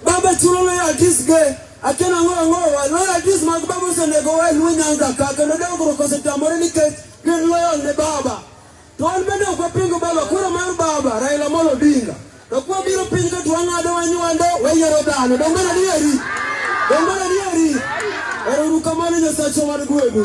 Baba chulo ne atis ge akena ngo ngo wa no atis mag baba osenego wa luo nyanza ka kendo dongruok osetamore nikech gin loyal ne baba to an bende ok wapingo baba kura mar baba Raila Amolo Odinga to kwa biro piny ka to wang'ado wanywando wayiero dhano dongo na dieri dongo na dieri ero rukamano nyasacho mar gwedhu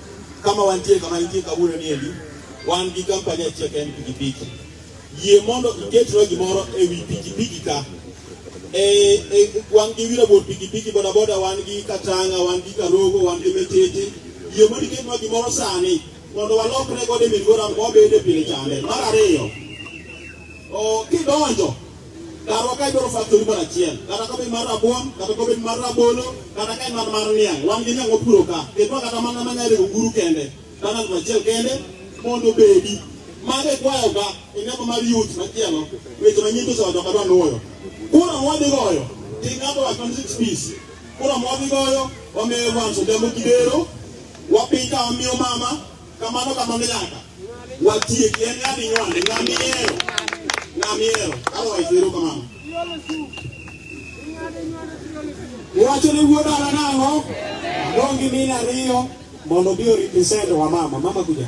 Kama wantie kama nitie kawuono ni endi wan gi kampani achiel ka en pikipiki. Yie mondo iketnwa gimoro e wi pikipiki ka e, e, wan gi wira bor pikipiki bodaboda wan gi Katanga wan gi Karogo wan gi Metete. Yie mondo iketnwa gimoro sani mondo walokre godo e Migora mobede pile chande. Mar ariyo, kidonjo Karwa ka idwaro factory moro achiel, kata ka obed mar rabuon, kata ka obed mar rabolo, kata ka en mar mar niang', wan gi niang' wapuro ka. Ketwa kata mana ma nyare oguru kende, kata ng'ato achiel kende mondo obedi. Mago ikwayo ka e namba mar youth machielo, weche manyien to osewacho kadwa nuoyo. Kura mwadhi goyo, ti ng'ato wa 26 piece. Kura mwadhi goyo, wamiyo Evans Odhiambo Kidero, wapiny ka wamiyo mama, Kamano kamano nyaka watiek en ng'ami nywane ng'ami ero ng'ami ero otherwise ero kamano wacho ni wuod ara nang'o dong gi mine ariyo mondo bi oripresent wa mama mama kuja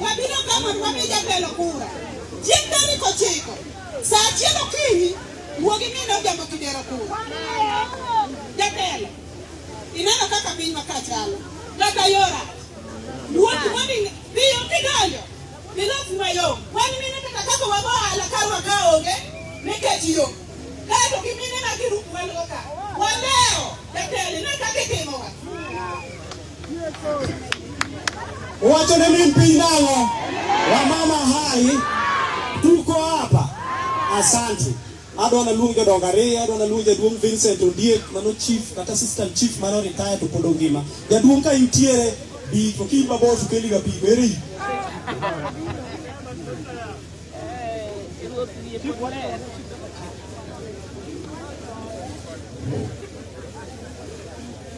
Wabiro ka mondo wami jatelo kura chieng' tarik ochiko sa achiel okinyi wuog imine ojambo kidero kura. Jatelo, ineno kaka piny maka chalo kaka yora wuok moni biyo kidonjo bilos mayom wan mine kaka kaka wago ohala ka waka onge nikech yo kaeto gi mine ma girup walgo ka waleo jatelo ine kaka itimowa Wacho ne min piny nang'o? Wamama hai tuko hapa. Asante. Adwa na luong jodongo ariyo, adwa na luong jaduong' Vincent Ondiek mano chief kata assistant chief mano retire to pod ongima. Jaduong' ka intiere bi to ki mabor to keli ga pi beri.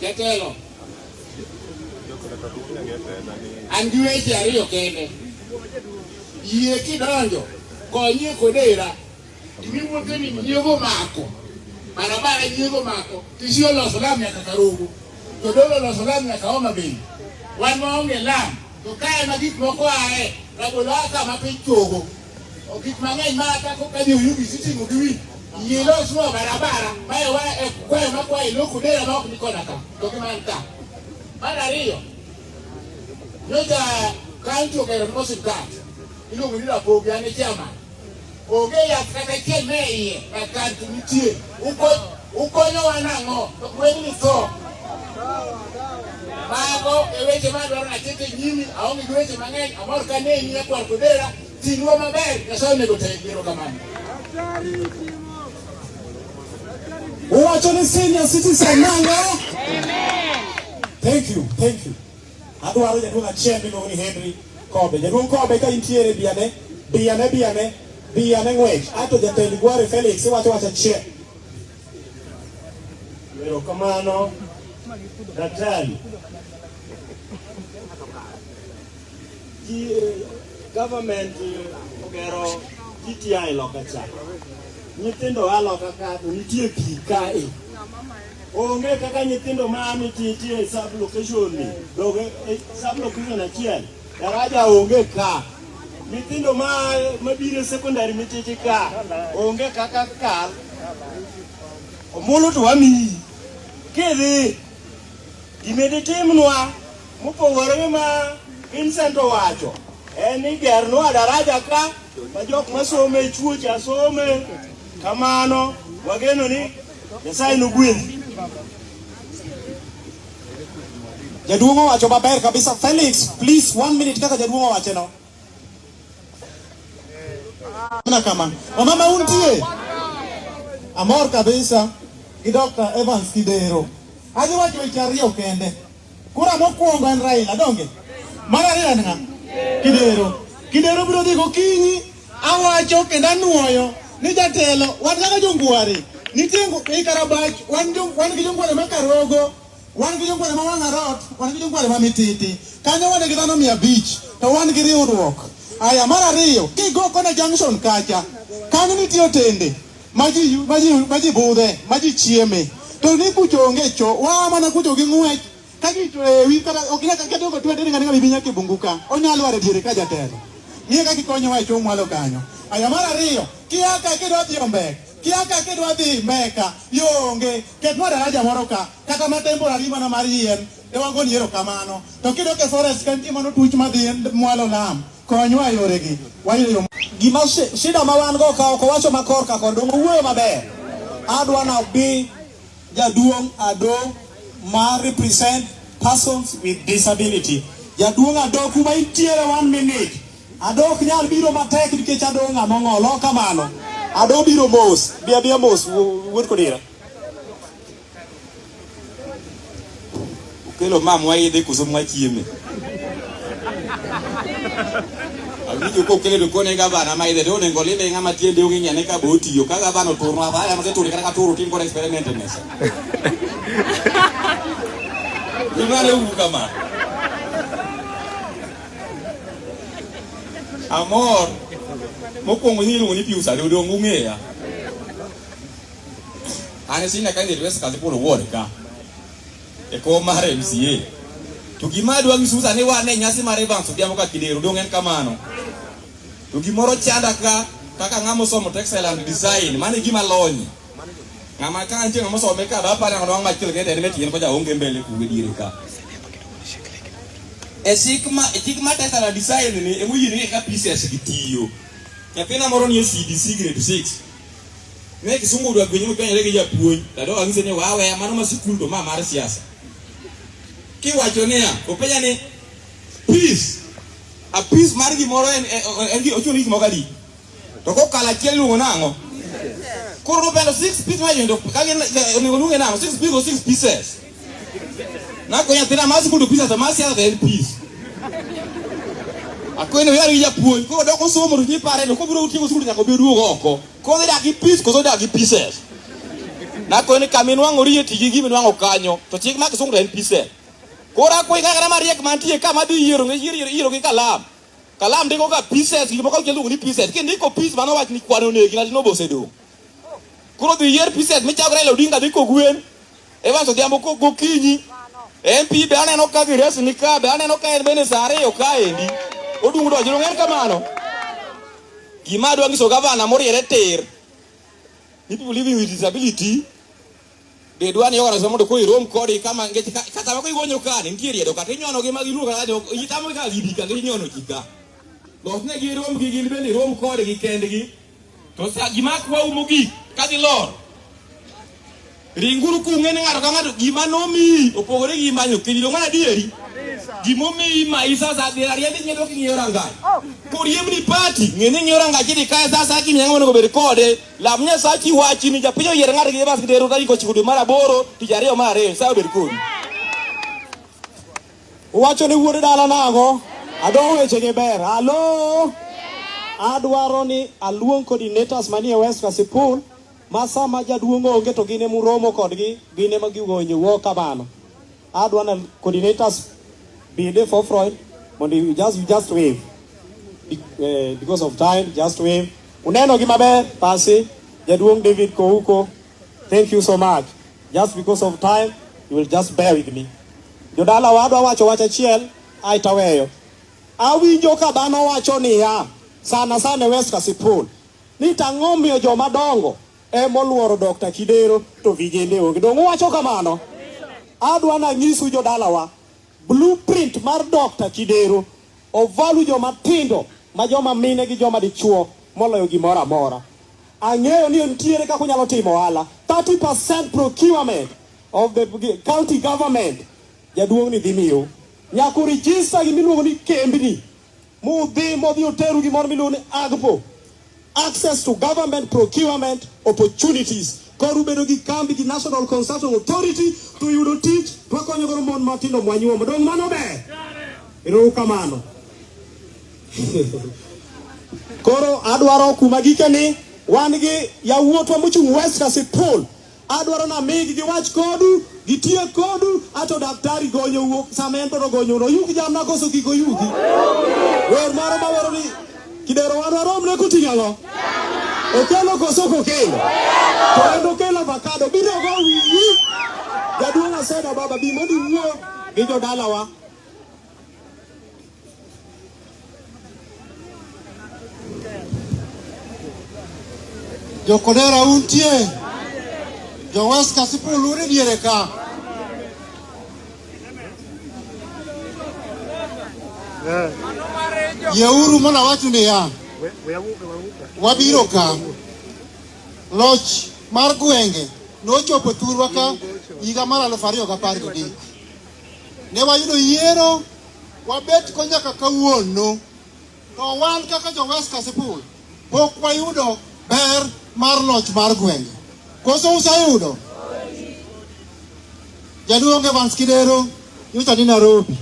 Jatelo, an gi weche ariyo kende. Yie kidonjo, konyie kodera. Gimi wuothe ni nyiego mako. Barabara nyiego mako. Tisi oloso lam nyaka Karugu. Jodolo oloso lam nyaka Homa Bay. Wan waonge lam. To kae ma gik moko ae, rabolo a kama piny chogo. Gik mang'eny ma kaka ka jo Yugi sitimo gi wi nyilos mo barabara mae wa e kwayo ma kwayo loko dera ma ok ni koda ka to gi man ka. Mar ariyo nyocha kaunti ogero mo siptal iluongo ni Rapogi an e chairman. Onge yath kata achiel me iye kar kaunti nitie Ukonyowa nang'o? Wengni tho. Mago e weche ma dwaro ni aket e nyimi. Aonge gi weche mang'eny. Amor ka neni e kwar kodera. Ting'wa maber. Nyasaye onego te biro kamano. Uwacho ni senior citizen nang'o? Amen. Thank you. Thank you. Adwaro jaduong' achiel miluongo ni Henry Kobe. Jaduong' Kobe ka intiere biyane, biyane, biyane, biyane ng'wech. Ato jatend Gware Felix iwacho wacha chiel. Erokamano daktari. Government eh, ogero GTI loka cha. Nyithindo a loka ka to nitie pi kae. Onge kaka nyithindo ma ami titie e sub location ni doge e sub location achiel daraja onge ka nyithindo ma mabiro e secondary mititi ka onge kaka kal omulu to wamiyi kidhi gimedi timnwa mopogore gi ma Vincent owacho en ni gernwa daraja ka ma jok masome chuocha some kamano wageno ni Nyasaye nogwedhi. Jaduong' owacho maber kabisa. Felix, please one minute kaka jaduong' owache no. Mana kama. Wamama untie? Amor kabisa gi Dr. Evans Kidero. Adhi wacho weche ariyo kende. Kura mokwongo en Raila donge? Mar ariyo en ng'a? Kidero. Kidero biro dhi gokinyi awacho kendo anuoyo ni jatelo wan kaka jongware nitie ei Karabach wan gi jongware ma Karogo wan gi jongware ma Wang'arot wan gi jongware ma Mititi kanyo wan gi dhano mia abich to wan gi riwruok aya mar ariyo kigo kona junction kacha kanyo nitie otende ma ji ma ji ma ji budhe ma ji chieme to ni kucho onge cho wa mana kucho gi ng'wech ka ji to ewi kata ok ina ka kedo ko twende ni ngani binya kibungu ka onyalo are diere ka jatelo ni ka kikonyo wa cho mwalo kanyo aya mar ariyo kia ka kido dhi ombe kia ka kido dhi meka yonge ket mara raja moro ka kata ma temporary mana mar yien e wago niero kamano to kido ke forest kan timo no tuch ma dhi mwalo lam Konywa e yoregi. Wayudo yo. Gima shida ma wan go ka ok owacho ma korka kondo owuoyo maber. Adwa na bi jaduong' ado ma represent persons with disability. Jaduong' ado kuma intiere one minute. Ado ok nyal biro matek nikech ado ng'ama ong'olo kamano. Ado biro mos. Bia bia mos wuod kodira. Ukelo ma mwaidhe koso mwachieme? Awinjo ka okele to kone gavana ma idhe to onego lime ng'ama tiende onge ng'ane ka bo otiyo ka gavana oturno apaya ma seturi kata ka turu tim kod experiment e mesa. Imane uru kamano. Amor mokwongo iluongo ni Pius Adodo ong'eya. An sina ka nirwe skati polo ward ka. E ko mar MCA. To gima adwa nyisu sani wan e nyasi mar Evans Odhiambo ka Kidero dong' en kamano. To gimoro chanda ka kaka ng'ama osomo textile and design mano e gima lony. Ng'ama ka nitie ng'ama osome ka ba para ng'ama machielo kende en metien ko jaonge mbele kuwe diere ka. E chik ma e chik ma textile and design ni emoyieni ka pieces gitiyo. Nyathina moro ni e CDC grade 6 Ne kisungu dwa gwenye mpenyo legi japuonj. Dado angise ni wawe mano ma sikul to ma mar siasa. Kiwacho niya, openya ni peace. A peace mar gimoro en en gi ochuni gimoro kadi. To kokalo achiel luongo nang'o? Koro nobelo six pieces ma yendo kagin onego luonge nang'o? Six pieces or six pieces? Nako nyathina masi kudu pisa to masi adha en pis. Akwene yar ija puonj ko doko somo to nyipare to kobiro utieko skul nyaka obi duogo oko. Ko dhi dagi pis koso dagi pieces. Nakwene kamin wango riye tigi gimi wango kanyo to chik mak sungu en pieces. Koro akwe ng'ang'ana mariek mantie ka madhi yiero ngi yiero yiero gi kalam. Kalam ndiko ka pieces gik moko kendo ni pieces. Kindiko piece mano wach ni kwano negi na dino bosedo. Koro dhi yier pieces michagre lo dinga diko gwen. Evans Odhiambo gokinyi MP be aneno ka gires ni ka be aneno ka en bende saa ariyo kaendi odung' donjo donge en kamano gima adwa nyiso gavana moriere tir ni people living with disability be dwa ni ogara mondo ko irom kodi kama ngech kata mako igonyo ka ni nitie riedo kata inyono gi magi luka kata itamo ka gidi ka inyono jika losne gi rom gi gin bende rom kodi gi kendgi To sa gima kwa umo gik kadhi lor. Ringuru kung'e ni ng'ato ka ng'ato gima nomiyi opogore gi manyo kidi dong' adieri. Gima omiyi ma isa sa dhi ariyo dhi nyedo king'iyo rangaye. Koriemni pati ng'e ni ng'iyo rangaye dhi kae sa sa king'iyo ng'ama onego bed kode. Lam Nyasachi wachi ni japiny oyier ng'ato gi jabas gi dero tarik ochiko dwe mar aboro tich ariyo mar ariyo Nyasaye obed kodi. Uwacho ni wuod dala nago? Adwa weche gi ber. Halo? Adwaro ni aluong coordinators manie West Kasipul ma sama jaduong' onge to gine muromo kodgi gine ma gigonyo wo kamano. Adwa na coordinators be there for Freud mondo you just you just wave. Eh, because of time just wave. Uneno gi maber pasi jaduong' David Kouko. Thank you so much. Just because of time you will just bear with me. Jodala wadwa wacho wach achiel ae taweyo. Awinjo ka dhano wacho niya sana sana West Kasipul ni tang'o miyo joma dongo e moluoro Dr. Kidero to vijende onge. Donge uwacho kamano? Adwa na nyisu jodalawa blueprint mar Dr. Kidero ovalu joma tindo ma joma mine gi joma dichuo moloyo gimoro amora. Ang'eyo ni nitiere kaka unyalo timo ohala 30% procurement of the county government jaduong' ni dhi miyo nyaka urijista gima iluongo ni kembni mudhi modhi oteru gimoro miluongo ni AGPO access to government procurement opportunities koro ubedo gi kambi gi National Consulting Authority to yudo tich to wakonyo godo mon matindo mwanyuomo dong' mano ber erouru kamano koro adwaro kuma gike ni wan gi yawuotwa mochung' West Kasipul Adwaro ni amigi giwach kodu, gitiek kodu, ato daktari gonyo wuok sama en to gonyo no yugi jamna koso gigo yugi. Wer moro ma wero ni kidero wan warom ne kutinga go. Okelo koso kokelo. To en okelo avocado biro go wiyi. Jaduong' aseda baba bi mondo iwuo gi jodalawa. Jokodera untie, Jowes Kasipul uri diere ka. Yeuru mondo awachu niya, wabiro ka. Loch mar gwenge nochopo thurwa ka higa mar aluf ariyo gi apar gabich. Ne wayudo yiero wabet ko nyaka kawuono, to wan kaka jo West Kasipul pok wayudo ber mar loch mar gwenge. Koso useyudo? Jaduong' Evans Kidero nyocha ni Nairobi,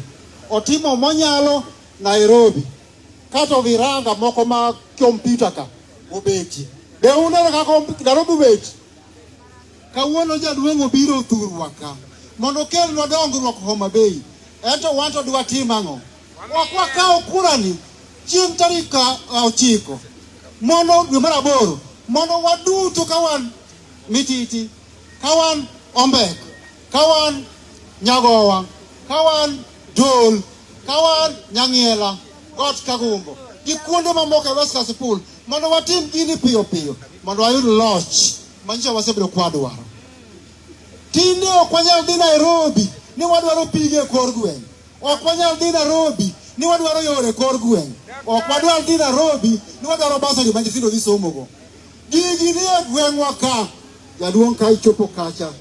otimo monyalo Nairobi, kato viranga moko ma kompyuta ka obeti. Be uneno kaka Nairobi obeti? Kawuono jaduong' obiro thurwa ka mondo okelnwa dongruok Homa Bay, ento wan to dwatim ang'o? Ok wakaw kurani chieng' tarik ochiko mondo dwe mar aboro mondo waduto ka wan mititi, ka wan ombek, ka wan nyagowa, ka wan dol, ka wan nyang'iela, got kagumbo gi kuonde mamoko e West Kasipul mondo watim gini piyo piyo mondo wayud loch. Manyiso wasebedo kwa dwaro. Tinde ok wanyal dhi Nairobi ni wadwaro pige e kor gweng'. Ok wanyal dhi Nairobi ni wadwaro yore e kor gweng'. Ok wadwar dhi Nairobi ni wadwaro basari ma nyithindo dhi somogo. Gigi ni e gweng'wa ka. Jaduong' ka ichopo kacha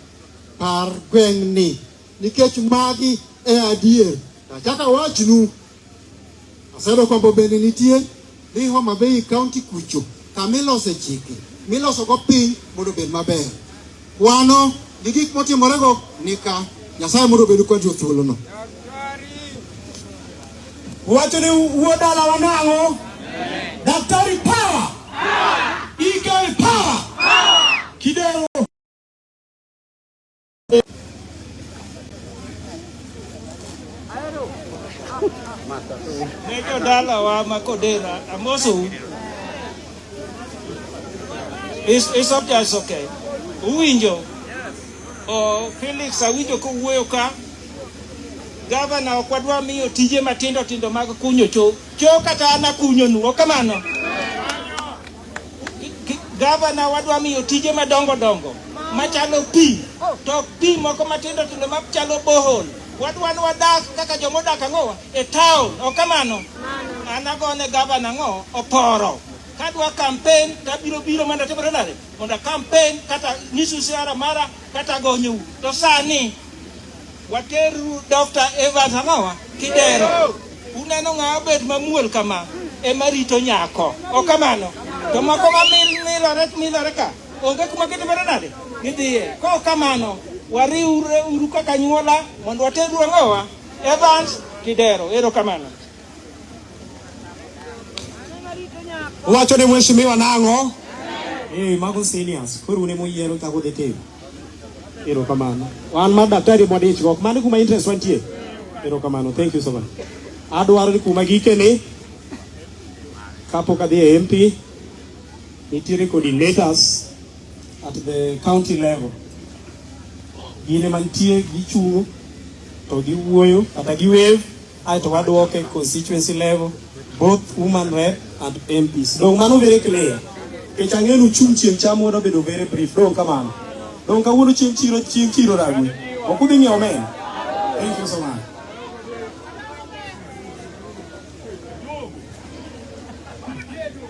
par gweng'ni nikech magi e adier. Achaka wachnu Aseyudo kwambo bende nitie ni Homa Bay County kucho kama ilose chike milosogo piny mondo obed maber. Kwano gi gik motimorego nika Nyasaye mondo obedu kwanjo thuolono. Wacho ni wuo dala wanang'o? Daktari power! Eagle power! Kidero Ne jodalawa ma Kodera, amosou. Is, is up there, it's okay. Uwinjo? Oh, Felix awinjo kowuoyo ka gavana ok wadwa miyo tije matindo tindo mag kunyo cho cho kata an akunyonu kamano Gavana wadwa miyo tije madongo dongo machalo pi to pi moko matindo tindo machalo bohol wadwa ni wadak kaka joma odak ang'owa e town ok kamano an agone gavana ang'o oporo kadwa kampen tabiro biro mondo atimore nade mondo kampen kata nyisu siara mara kata gonyou to sani wateru Dr. Evans Amawa Kidero. Uneno ng'awa bed mamuol kama ema rito nyako, ok kamano? To moko ma milore milore ka onge kuma gitimore nade gidhiye. Ko kamano wariwre uru kaka nyuola mondo wateru ang'owa Evans Kidero. Ero kamano. Wacho ne mheshimiwa nang'o? Eh, mago seniors. Koro ne moyiero ta kodhi tim. Ero kamano. Wan ma daktari mwa dich gok. Mani kuma interest wantie. Ero kamano. Thank you so much. Adwaro ni kuma gike ni kapok adhi e MP nitiere coordinators at the county level. Gine mantie gichung' to giwuoyo kata giwave aeto waduoke constituency level both woman rep and MPs. Dong mano very clear. Kech ang'e nu chung' chieng' cham wado bedo very brief. Dong kamano. Dong kawuono chieng' chiro chieng' chiro ragwe. Ok udhi ng'iewo men. Thank you so much.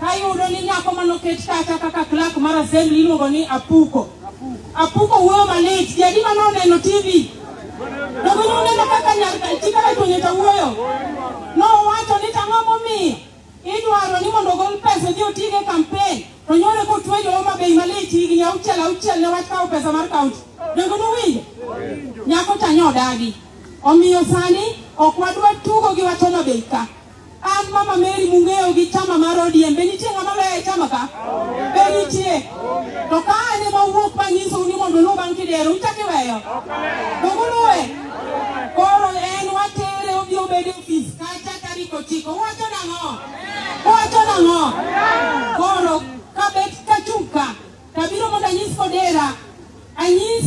Kayudo ni nyako mane oket kacha kaka clerk mar assembly iluongo ni Apuko. Apuko wuoyo malit, ji adi mane oneno TV? Dogo ne oneno kaka nyar chi kaka tuonyo to wuoyo. Nowacho ni tang'o momiyo idwaro ni mondo ogol pesa odhi otigo e kampen to nyore kotwe jo Homa Bay malit higni auchiel auchiel ne wach kawo pesa mar kaunti. Dogo nowinjo? Nyako cha nyo odagi. Omiyo sani ok wadwa tugo gi wach Homa Bay ka. An Mama Mary mung'eyo gi chama mar ODM, be nitie ng'ama loyo e chama ka? Be nitie? To ka an ema owuok ma nyisou ni mondo uluw bang' kidero, uchak iweyo? Dog uluwe? Koro en watere obi obed e ofis kacha tarik ochiko. Uwacho nang'o? Uwacho nang'o? Koro kabet kachung' ka, tabiro mondo anyis kodera, anyis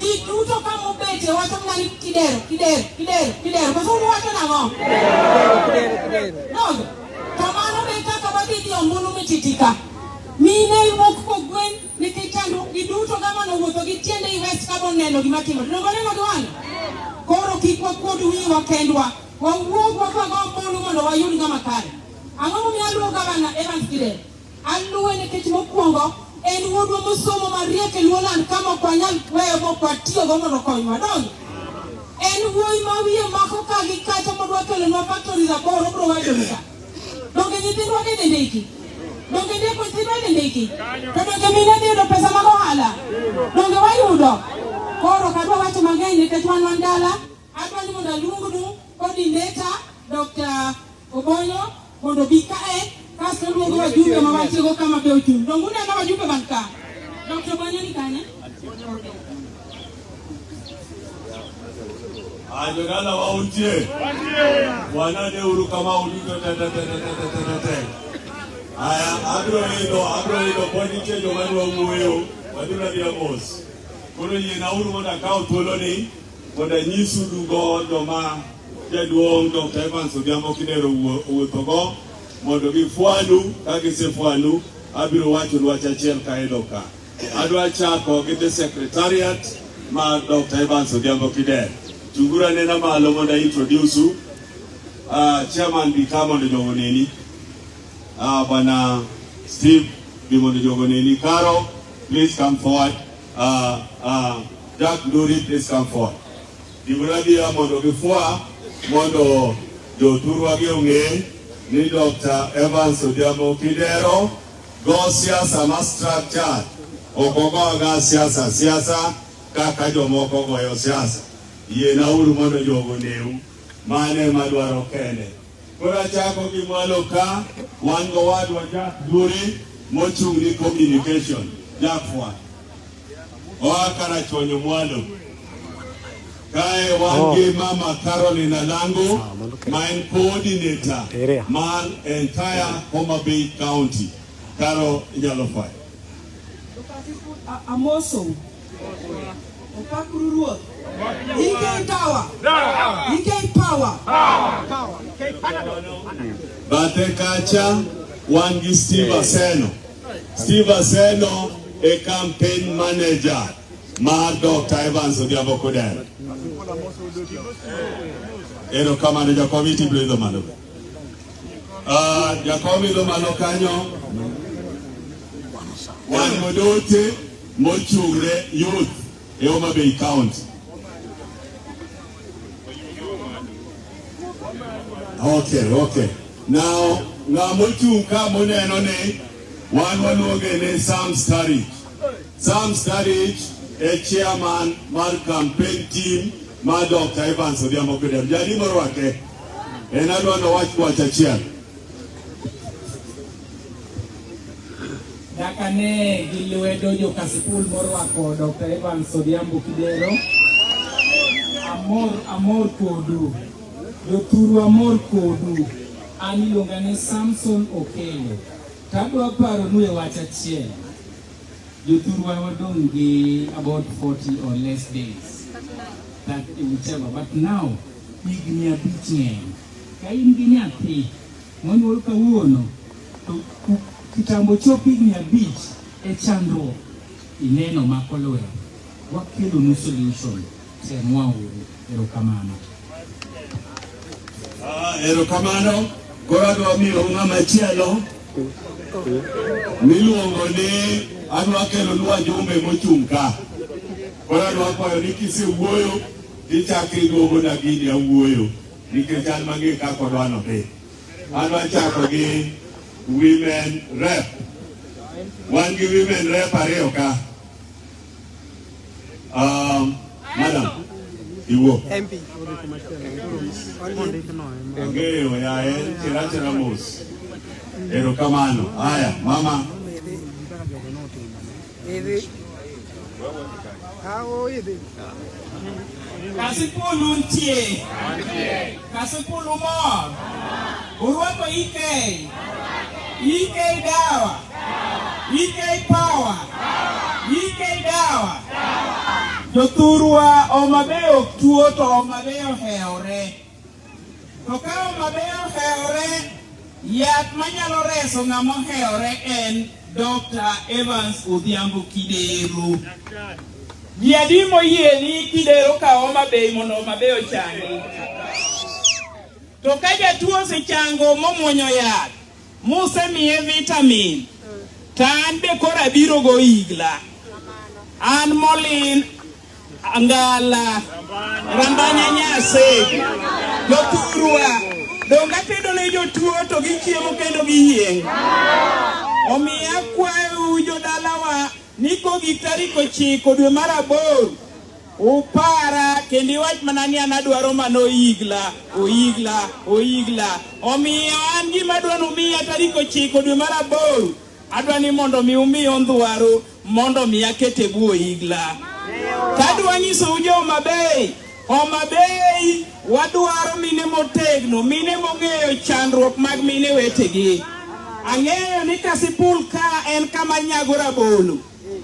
Ji duto ka mobete wacho mana ni kidero, kidero, kidero, kidero. Koso un wacho nang'o? Nogo. To mano be kaka wadhi dhi ombulu mititika. Mine wuok kogwen nikech chandruok gi duto kama nowuotho gi tiende i West ka boneno gima timore. Nogo neno gi wang'e. Koro kik wakuod wiwa kendwa. Wawuog wakwago ombulu mondo wayud ng'ama kare. Ang'o momiyo aluwo gavana Evans Kidero? Aluwe nikech mokwongo en wuodwa mosomo mariek e luo land kama ok wanyal weyo mok watiyogo mondo konywa dongi. En wuoyi ma wiye mako ka gi kacha modwa kelonwa faktori raboro obro wadoga. Donge nyithindwa gi dhi ndiki? Donge ndiko nyithindwa gi ndiki? To donge mine dhi yudo pesa mag ohala? Donge wayudo? Koro kadwa wacho mang'eny nikech wan wan dala Adwani mondo aluongnu coordinator Dr. Obonyo mondo bi kae kasto luongo wajumbe ma wachiego kama be ochung'. Dongu neno wajumbe man ka. Dr. Obonyo ni kanye? Ajogala wa utie. Bwana de uru kama ulito tete tete tete tete. Aya abro ido abro ido podi tie jo madwa wuoyo. Wadura dia mos. Koro yie na uru mondo akaw thuoloni. Mondo anyisu dugo joma jaduong' Dr. Evans Odhiambo Kidero owuothogo mondo gifwanu, ka gisefwanu abiro wacho dwach achiel ka elo ka. Adwa chako gi the secretariat mar Dr. Evans Odhiambo Kidero. Chunguru anena malo mondo introduce u. Uh, chairman bi ka mondo jogo neni. Uh, bwana Steve bi mondo jogo neni. Karo, please come forward. Uh, uh, Jack Nduri, please come forward. Gimana dia mondo gifua mondo joturwa gi ong'e ni Dr. Evans Odhiambo Kidero go siasa ma structure ok ogoga siasa siasa kaka jomoko goyo siasa. Yiena uru mondo jogo neu mane madwaro kende Koro achako gi mwalo ka wan go wadwa Jack Duri mochung' ni communication Jafwa oa Karachuonyo mwalo kae wan oh. gi mama Caroline Alango ah, ma en coordinator mar entire Homa Bay County. Caro inyalo fwayo. Amoso. Opakuru Ruoth. EK Tower. EK Power. Bathe kacha wan gi Steve Aseno. Steve Aseno e campaign manager mar Dr. Evans Odhiambo Kudere. Ero kamano jakomiti biro idho malo. Ah, jakom idho malo kanyo. Wan godote mochung'ne youth e Homa Bay County. Okay, okay. Now, ng'a mochung' ka moneno ni wan waluonge ni Sam Starich. Sam Starich e chairman mar campaign team mar Dr. Evans Odhiambo Kidero. Jadi morwake en adwa nowach wach achiel. Nyaka ne gi lwedo joka sikul morwako Dr. Evans Odhiambo Kidero. Amor, amor kodu. Jothuru amor kodu. An iluonga ni Samson Okelo. Tadwa paronu e wach achiel. Jothurwa wadong' gi about 40 or less days. That whichever. But now, higni abich ng'eny. Ka in gi nyathi, Monyuol kawuono to kitambo chop higni abich e chandruok ineno mako lwedo wakelonu solution temwauru erokamano ah, erokamano koro adwa miyo ng'ama chielo miluongo ni adwa kelonu wajumbe mochung' ka koro adwa kwayo ni kisewuoyo ichako iduogo na gini awuoyo nikech an mang'e kaka odwa nodhi. An wachako gi women rep. Wan gi women rep ariyo ka. Um, madam, iwuo. MP. Ang'eyo ya en chira chira mos. Erokamano. Haya, mama. Kasipulu ntie. Kasipulu mor. Urwako ike. Ike dawa. Ike power. Ike dawa. Jothurwa Homa Bay ok tuo to Homa Bay ohewore. To ka Homa Bay ohewore, yath manyalo reso ng'ama ohewore en Dr. Evans Odhiambo Kidero. Ji adi moyie ni Kidero ka Homa Bay mondo Homa Bay ochangi? To ka jatuo osechango momwonyo yath, musemiye vitamin, to an be koro abiro go igla. An molin Angala, Rambanya Nyase, Jothurwa, donga tedo ne jotuo to gichiemo kendo giyieng'. Omiyo akwayou jodalawa ni kogi tarik ochiko dwe mar aboro upara kendo iwach mana ni an adwaro mana oyigla oyigla oyigla omiyo an gima dwa numiya tarik ochiko dwe mar aboro adwa ni mondo mi umiyo ndwaro mondo mi aket e bwo igla. Kadwa nyisou jo Homa Bay, Homa Bay wadwaro mine motegno, mine mong'eyo chandruok mag mine wetegi. Ang'eyo ni Kasipul ka en kama nyago rabolo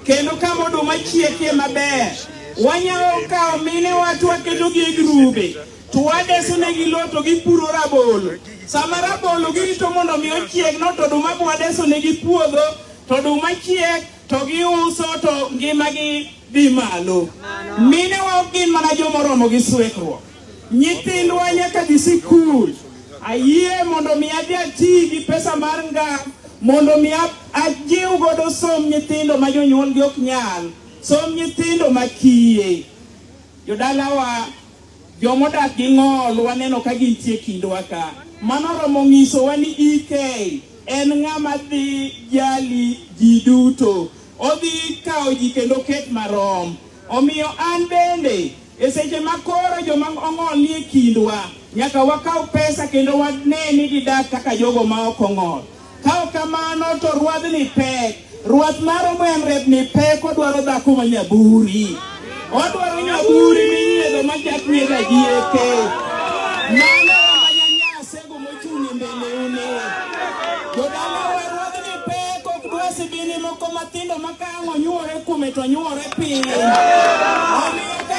kendo kama oduma chiekie maber. Wanyalo kawo mine wa to waketogi e grube to wadeso negi lowo to gipuro rabolo. Sama rabolo girito mondo mi ochieg no to oduma bwadeso negi puodho to oduma chiek to giuso to ngimagi dhi malo. Minewa ok gin mana joma oromo gi swekruok. Nyithindwa nyaka dhi sikul. Ayie mondo mi adhi ati gi pesa mar nga mondo mi ajiw godo som nyithindo ma jonyuolgi ok nyal, som nyithindo ma kiye. Jodalawa Joma odak gi ng'ol waneno ka gintie kindwa ka. Mano romo ng'isowa ni EK en ng'ama dhi jali ji duto. Odhi kawo ji kendo ket marom. Omiyo an bende e seche ma koro joma ong'ol nie kindwa, nyaka wakaw pesa kendo wane ni gidak kaka jogo ma ok ong'ol. Ka ok kamano to ruadhni pek. Ruath maro mwenrep ni pek odwaro dhako ma nyaburi. Odwaro nyaburi minyiedho ma chak nyiedho ajieke. Mano ma nyanyase go mochung' e mbeleune. Jodala wa ruadhni pek ok dwa sibini moko matindo ma ka ang' onyuore kuome to onyuore piny. Omiyo ka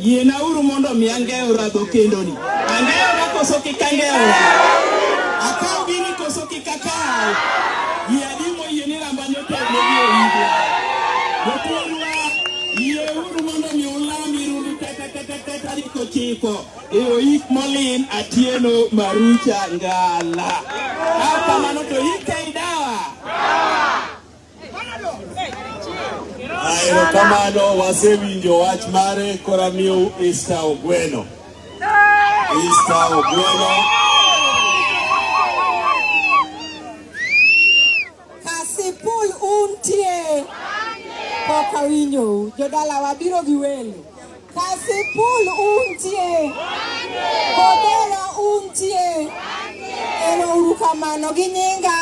Yienauru mondo mi angeyo radho kendoni. Angeyo na koso kik angeyo. Akaw gini koso kik akaw. Yie adi moyie ni ramba nyotegno gi oyigo. Jopuonjwa, yieuru mondo mi ulam irundu kata kata kata riko chiko. E oyik molin atieno marucha ngala. Kata mano to yika Erokamano, wasewinjo wach mare, kora miyo Easter Ogweno. Easter Ogweno. Kasipul untie. Pok awinjou. Jodala wabiro gi welo. Kasipul untie. Kodera untie. Ero uru kamano gi nyinga.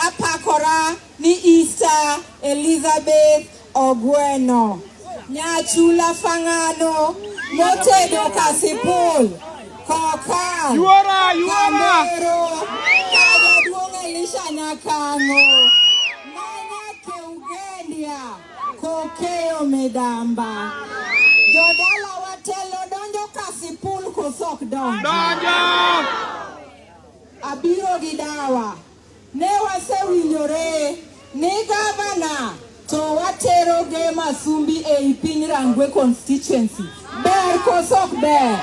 Apakora ni Easter Elizabeth Ogweno. Nyachula Fang'ano motedo Kasipul. Kokal. Yuora, yuora. Kamero. Kajaduong' Elisha Nyakango. Manya Keugendia. Kokeyo Midamba. Jodala watelo donjo Kasipul kosok donjo. Donjo. Abiro gi dawa. Ne wasewinjore ni gavana to watero ge Masumbi ei piny Rangwe constituency. Ber koso ok ber?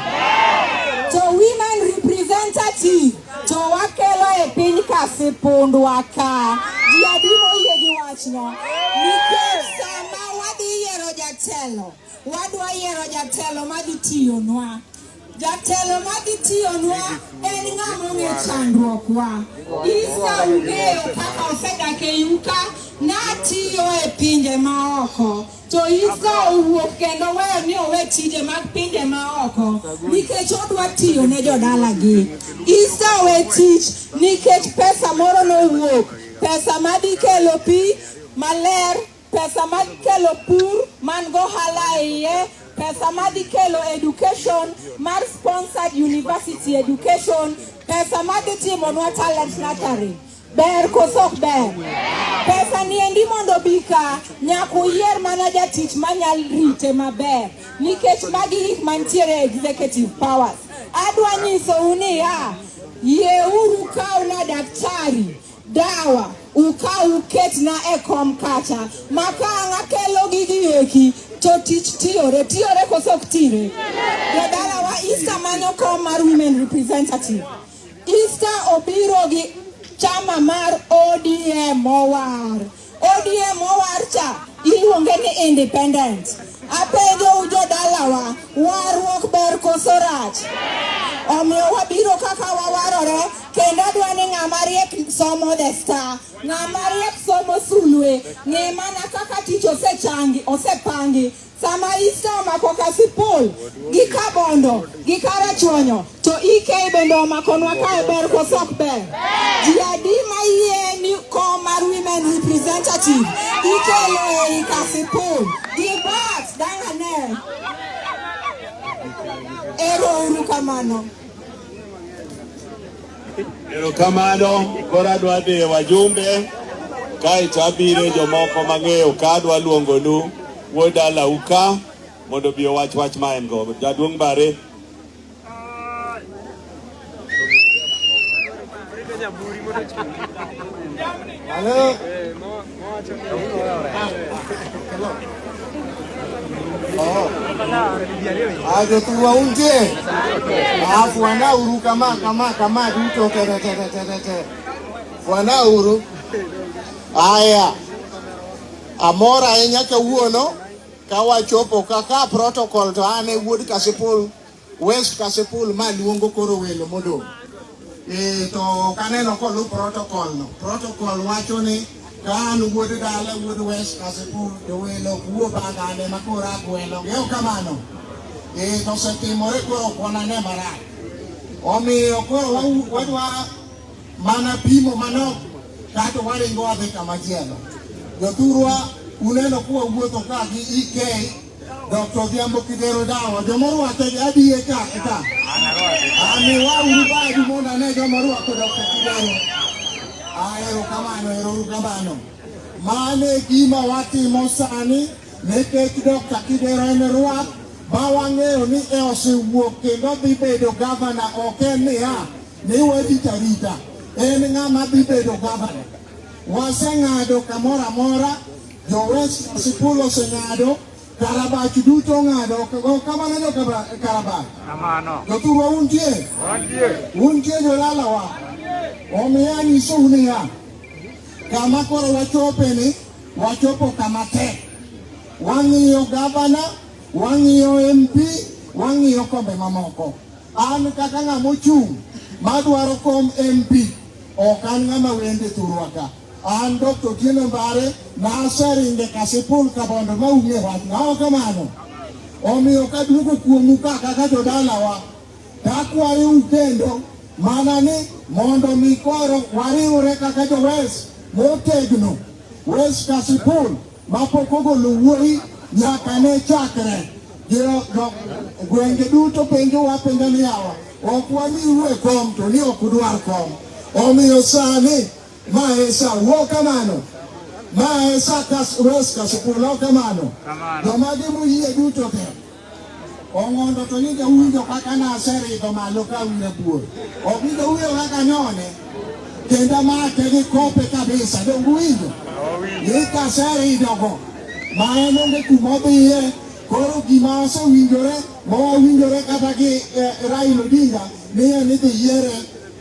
To women representative to wakelo e piny Kasipundwa ka. Ji adi moyie gi wachno? Nikech sama wadhi yiero jatelo Wadwa yiero jatelo madhi tiyonwa. Jatelo madhi tiyonwa en ng'ama ong'e chandruokwa. Isa ung'eyo kaka osedak e yuka natiyo e pinje maoko to Isa owuok kendo weyo ni owe tije mag pinje maoko nikech odwa tiyo ne jodalagi. Isa owe tich nikech pesa moro nowuok, pesa madhi kelo pi maler pesa ma kelo pur man gohala e iye pesa ma dhi kelo education mar sponsored university education pesa ma dhi timonwa talent nursery ber koso ok ber pesa niendi mondo bi ka nyaka uyier mana jatich manyal rite maber nikech magi gik mantiere executive powers adwa nyisou niya yieuru kawna daktari Dawa, ukaw uketna e kom kacha, ma ka ang' akelo gigi eki, to tich tiyore. Tiyore koso ok tire? Jodalawa Easter manyo kom mar women representative. Easter obiro gi chama mar ODM owar. ODM owarcha iluonge ni independent. Apenjo u jodalawa, warruok ber koso rach? Omiyo wabiro kaka wawarore kendo adwa ni ng'ama riek somo the star, ng'ama riek somo sulwe, ng'e mana kaka tich osechangi osepangi Sama iste omako Kasipul gi Kabondo gi Karachuonyo to ike bende omakonwa kae ber koso ok ber? Ji adi ma yie ni kom mar women representative ikelo ei Kasipul gi bat dangane? Ero uru kamano. Erokamano, koro adwa dhi wajumbe kaeto abiro jomoko mang'eyo ka adwa luongonu wuod dalau ka mondo obi owach wach ma en go. Jaduong' Bare. Hello. Aje tuwaunje alafu wanauru kama kama kama duto tete tete tete wanauru. Aya, amora ahinya kawuono kawachopo kaka protocol to an e wuod Kasipul. West Kasipul ma luongo koro welo modong'. E, to ok aneno kolu protocol no. Protocol wacho ni ka an wuod dala wuod West Kasipul to welo wuo bagane ma koro agwelo. Geo kamano. E, to osetimore koro ok wanane marach. Omiyo koro wadwa mana pimo manok kato waringo wadhi kamachielo. Jothurwa uneno kuwa wuotho ka gi EK Dr. Odhiambo Kidero Dawa, joma orwake gi adiye ka ka. Amiwa uru badu mondo ane joma orwako Dr. Kidero. Ahero kamano, ero uru kamano. Mano e gima watimo sani nikech Dr. Kidero en rwak ma wang'eyo ni e osewuok kendo dhi bedo gavana ok en niya ni warita rita en ng'ama dhi bedo gavana. Waseng'ado kamoro amora Jowes sikul oseng'ado, Karabach duto ong'ado, go kamano jo Kaba- Karabach. Kamano. Jothurwa untie? Wantie. Untie jolalawa? Omiyo anyisou niya, kama koro wachopeni, wachopo kama tek. Wang'iyo gavana, wang'iyo MP, wang'iyo kombe mamoko. An kaka ng'ama ochung' madwaro kom MP, ok an ng'ama wende thurwa ka. An Dr. Otieno Mbare naseringe Kasipul Kabondo ma ung'e wach nawa kamano. Omiyo kaduogo kuomu ka kaka jodalawa takwayo ukendo mana ni mondo mi koro wariwre kaka jo West motegno West Kasipul mapok ogolo wuoyi nyaka ne chakre gwenge duto penjo wapenjo ni yawa ok wamiu e kom to ni ok udwar kom omiyo sani Maesa wo kamano. Maesa kas roska sukulo kamano. Joma gi muyie duto te. Ong'ondo to ni jawinjo kaka naseridho malo ka wina buor. Obinjo wuyo kaka nyone. Kendo make gi kope kabisa. Donge winjo? Ni kaseridhogo. Ma en onge kuma odhiye. Koro gima osewinjore ma wawinjore kata gi eh, Raila Odinga ni en idhi yiere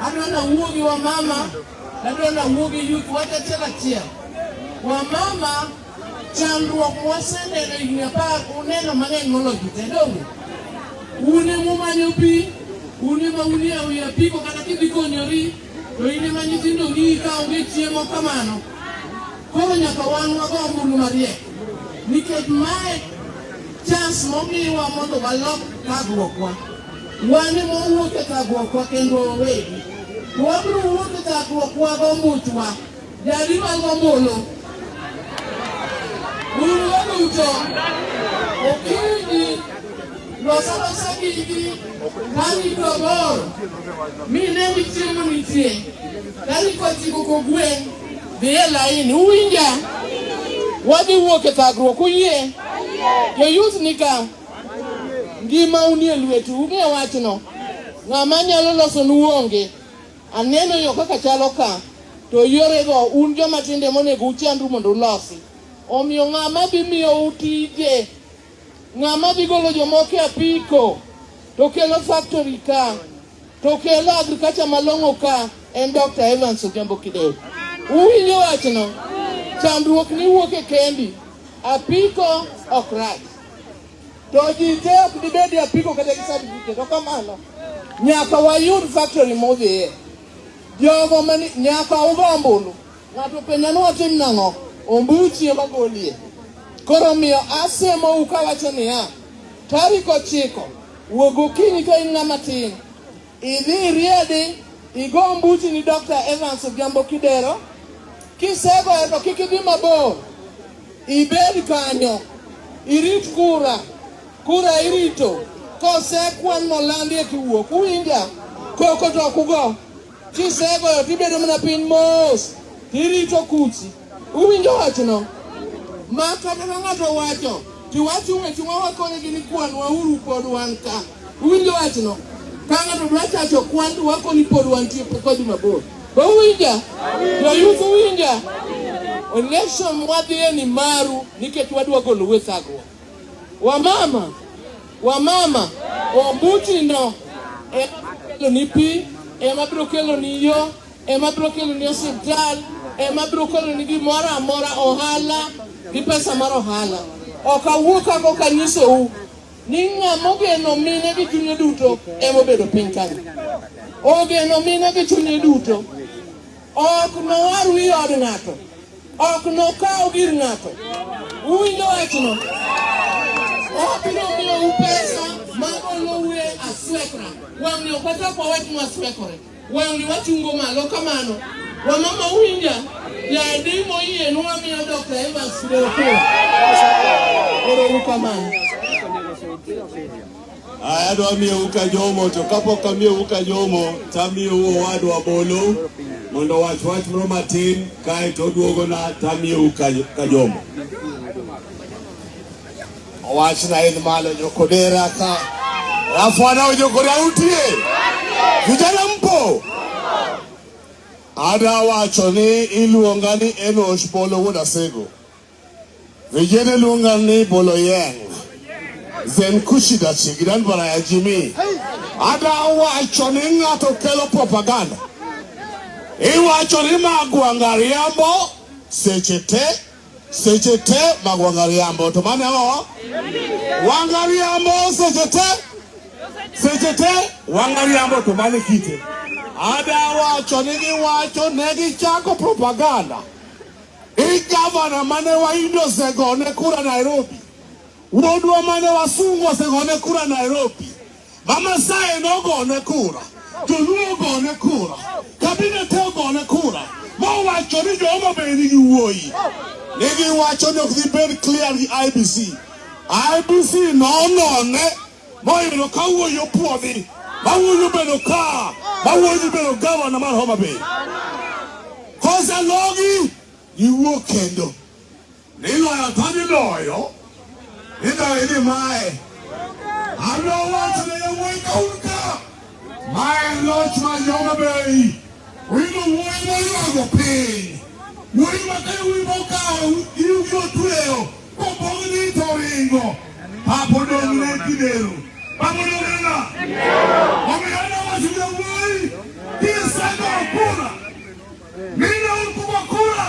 Adwanda wuogi wa mama, adwanda wuogi yuth wach achiel achiel. Wa mama chandruok mwaseneno higni apar uneno mang'eny moloyo ji te donge? Un ema umanyo pi, un ema unie awi apiko kata kidhi konyori to in ema nyithindo ng'iyi ka onge chiemo kamano. Koro nyaka wan wago ombulu mariek nikech mae chance momiwa mondo walok thagruokwa. Wan ema wawuok e thagruokwa kendwa wawegi. To wabiro wuok e thagruokwa gombuchwa. Jadi mag ombulu. Un waduto okinyi losa losa gigi kani to bor mi ne ni chiemo nitie kani kochiko kogwen dhi e laini uwinja wadhi wuok e thagruok uyie jo youth ni ka Ngima unie lwetu, ung'e wachno. Ng'ama nyalo loso nu onge. Aneno yo kaka chalo ka, to yorego un joma tinde monego uchandru mondo ulosi. Omiyo ng'ama dhi miyo utije, ng'ama dhi golo jomoko e apiko, to kelo factory ka, to kelo agriculture malong'o ka, en Dr. Evans Odhiambo Kideu. Uwinjo wachno? Chandruok ni wuok e kendi. Apiko ok rach. To ji te ok dibed e apiko kata gi certificate, ok kamano. Nyaka wayud factory modhiye. Jogo mani nyaka ugo ombulu. Ng'ato penja ni watim nang'o? Ombuchi ema golie. Koro omiyo asemou kawacho niya, tarik ochiko wuog okinyi ka in ng'ama tin, idhi iriedi igo ombuchi ni Dr. Evans Odhiambo Kidero. Kisegoyo to kik idhi mabor, Ibed kanyo, irit kura. Kura irito kosekwan molandi e kiwuok, uwinja koko to ok ugo. Kisegoyo tibedo mana piny mos, tirito kuchi. Uwinjo wachno? Ma kata ka ng'ato wacho, tiwacho weche ma wakonyo gi ni kwanwa uru pod wan ka. Uwinjo wachno? Ka ng'ato dwa chacho kwan to wako ni pod wantie pok wadhi mabor. Be uwinja? Joyuth uwinja? Election mwadhiye ni maru nikech wadwa golo we thagruok. Wamama, wamama, ombutino ema biro kelo ni pi, ema biro kelo ni yo, ema biro kelo ni osiptal, ema biro kelo ni gimoro amora ohala gi pesa mar ohala. Ok awuo kako kanyisou ni ng'ama ogeno mine gi chunye duto ema obedo piny kanyo. Ogeno mine gi chunye duto, ok nowar wi od ng'ato, ok nokaw gir ng'ato. Uwinjo wachno? Obiro miyou pesa ma oloue aswekra, wang'ni ok wachak wawach mwaswekore. Wang'ni wachungo malo kamano. Wamama winja, yadi moyie nwamiyo Dr. Evans Doko. Oromu kamano. Aya adwa miyo uka jomo to kapok amiyo uka jomo to amiyo owadwa bolo mondo wach wach moro matin kae to oduogona to amiyo uka jomo. Owachna en malo nyokodera ka rafwana onyokora utie vijana mpo ada wacho ni iluonga ni Enosh Bolo wuod Asego vijana iluonga ni Bolo Yeng zenkushida chigidan bara ya jimi ada wacho ni ng'ato kelo propaganda iwacho ni magwanga riambo seche te seche te mag wangariambo to mane o wangariambo seche te seche te wangariambo to mane kite ada wacho ni giwacho ne gichako propaganda i gavana mane waindo osegone kura Nairobi wuodwa mane wasungu osegone kura Nairobi Mamasai nogone kura, Joluo ogone kura, kabinet ogone kura, mowacho ni jomo be nigi wuoyi. Ne giwacho ni ok dhi bed clear gi IBC. IBC nonone moyudo ka wuoyi opuodhi, ma wuoyi obedo ka, ma wuoyi bedo gavana mar Homa Bay. Kosalogi, giwuok kendo. Niloyo to niloyo, niloyo ni mae. Adwa wacho ne yawuoyi ka un ka, ma en loch mar Homa Bay. Wino wuoyi moywago piny, wuoyi ma ka wuoyi mokawo iwgi otweyo, kopong' ni to ringo, pap odong' ne Kidero. Pap odong' ne ng'a? Omiyo adwa wacho ne yawuoyi, kisegoyo kura, mine un kugo kura,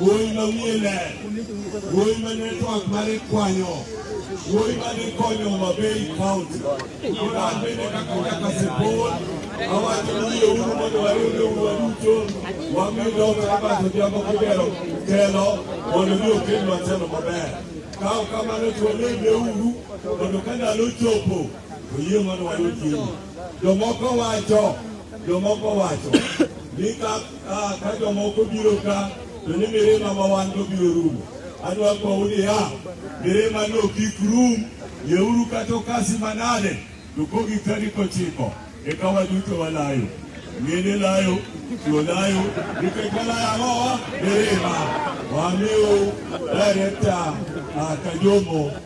Wuoyi ma wiye ler, wuoyi ma network mare kwanyo, wuoyi ma dhi konyo Homa Bay County. An bende kaka kaka Sipol, awacho ni yie uru mondo wariwre uru duto, wami dhoot Robert Odhiambo Kibero telo mondo mi okel matelo maber. Kawo kamano to walembe uru mondo ka ndalo chopo, oyie mondo wayud gini. Jomoko wacho, jomoko wacho ni ka Ah, ka jomoko biro ka to ni mirima ma wan go biro rumo adwa kowou niya mirima no kik rum yeuru kata okasi manade to kogi tarik ochiko eka waduto walayo mine layo chuo layo nikech walayo ang'owa mirima wamiu direkta ah, kajomo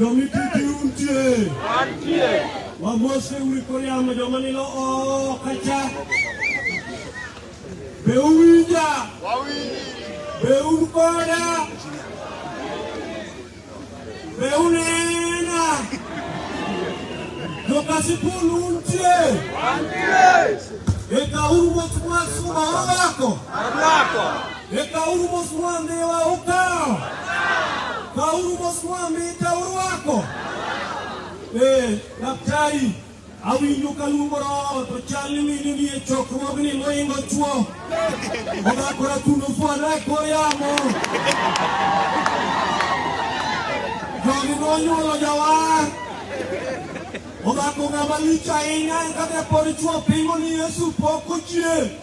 Jomititi untie. Antie. Wamose uri koyamo joma nilo oko cha. Be uwinja? Wawinji. Be un koda? Be unena? Jokasipul untie. Antie. Eka uru wach mwasuma orwako. Orwako. Ekauru moswambe wa ukawo. Kauru moswambe ikawo rwako. Eh, daktari, awinjo ka luongo roho to chal ni mine ni e chokruogni moingo chwo. Odakora tundo fwana e kor yamo. Jogi nonyuolo jawar. Odako ng'ama lich ahinya en kaka pod chwo pingo ni Yesu pok ochier.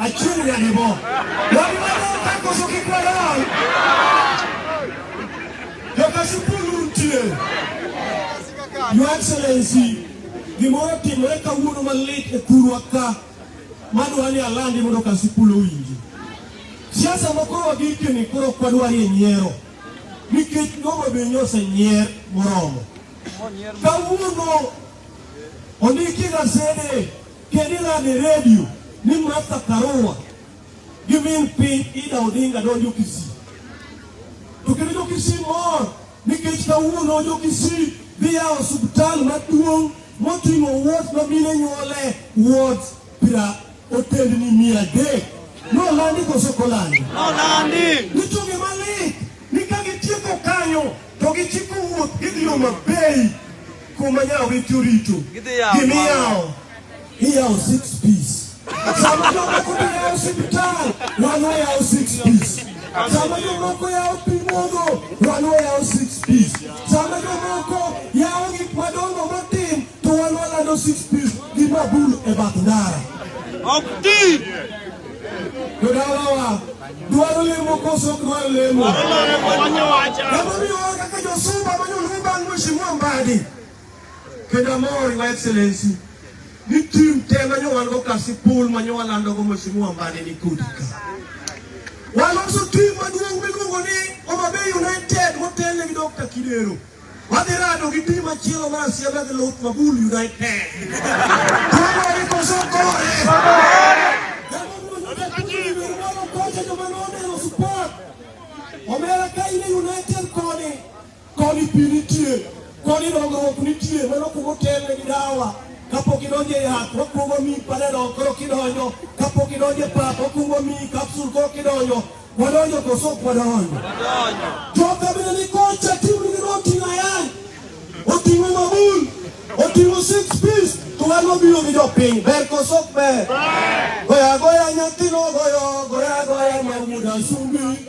Achunga nebo. Wani mano kakoso kikwadal. Yokasipulu ntie. Your Excellency, gimoro timore kawuono malit e kurwa ka madwa ni alandi mondo Kasipul owinji. Siasa moko wagikeni koro ok wadwarie nyiero nikech Homa Bay nyo osenyier moromo. Kawuono ondiki gasede Kendo ilando e redio ni Martha Karua gi min piny Ida Odinga donjo Kisii. To kendo jo Kisii mor nikech kawuono jo Kisii dhi yawo osiptal maduong' moting'o wot ma mine nyuole wot pira otendni mia adek. Nolandi koso kolandi? Nolandi. Nichunge malit ni ka gitieko kanyo to gichiko wuoth gidhi yo mabei Kuma nyawo gi turito. Gidhi yawo. Gimi yawo. Iyawo six piece. Sama jomoko to yawo osiptal, wan wayawo six piece. Sama jomoko yawo pi modho, wan wayawo six piece. Sama jomoko yawo gik madongo matin, to wan walando six piece gi mabul e bath ndara. Ok ti. Jodalawa Dwaro lemo koso dwaro lemo. Namomiyo kaka josumba manyoluo bang' Mheshimiwa Mbadi. Kendo amor Your Excellency ni tim te manyowango kasi pul manyowalandogo Mheshimiwa Mbadi ni kodi ka. Waloso tim maduong' miluongo ni Homa Bay United motele gi Dr. Kidero. Wadhi rado gi tim machielo mar siema gi Luth Mabul United. Koro ikoso kore. Omera ka in United koni, koni pi nitie, koni dongruok nitie, mano kuma otelne gi dawa. Kapok idonjo e yath, wakuongo mi panadol, koro kidonjo. Kapok idonjo e pap, wakuongo mi kapsul, koro kidonjo. Wadonjo koso ok wadonjo? Jo kabila ni kocha timu ni oting'o ayany, oting'o mabul, oting'o six piece to wan wabiro gi jopiny. Ber koso ok ber? Goya goya nyathino goyo, goya goya nyamuda sumbi.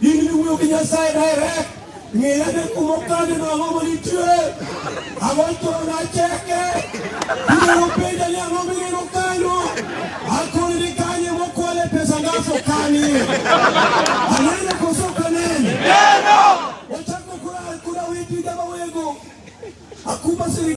In iwuoyo gi Nyasaye direct. Ng'eya ne kuma kane no ang'o manitie. Ang'o to nacheke. Inyalo penja ni ang'o mineno kanyo. Akoni ni kanye mokwale pesa ngaso kani. Anene koso kanene. Neno. Wachako kula kula witi jama wego. Akuba siri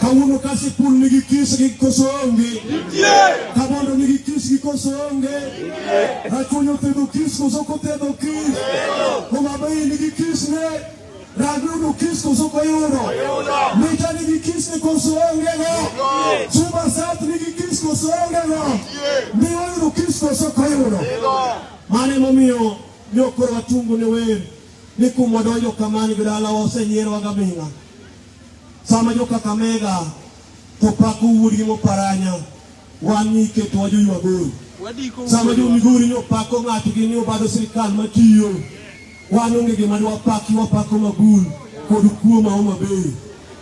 Kawuono ka sikul nigi kis gi koso onge? Kabondo nigi kis gi koso onge? Rachuonyo othedho kis koso ok othedho kis? Homabay nigi kis ne? Ragudu kis koso ok oyudo? Mita nigi kis ne koso onge go? Suba South nigi kis koso onge go? Miwa yudo kis koso ok oyudo? Mano emomiyo ne okoro watungu ne wer ni kuma donjo kamani gi dalawa osenyierowa gabinga Sama jo Kakamega to pako wuodgi moparanya, wan ni iketowa jo Ywagoro. Sama jo Migori ni opako ng'atgi ni obado sirikal matiyo, wan onge gima ni wapaki, wapako Magul kod kuo ma Homa Bay.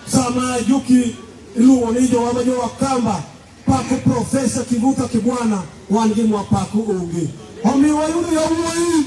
Sama joki iluongo ni jowa ma jo Wakamba pako Profesa Kivuta Kibwana, wan gima wapako onge. Omiyo wayudo yawuoyi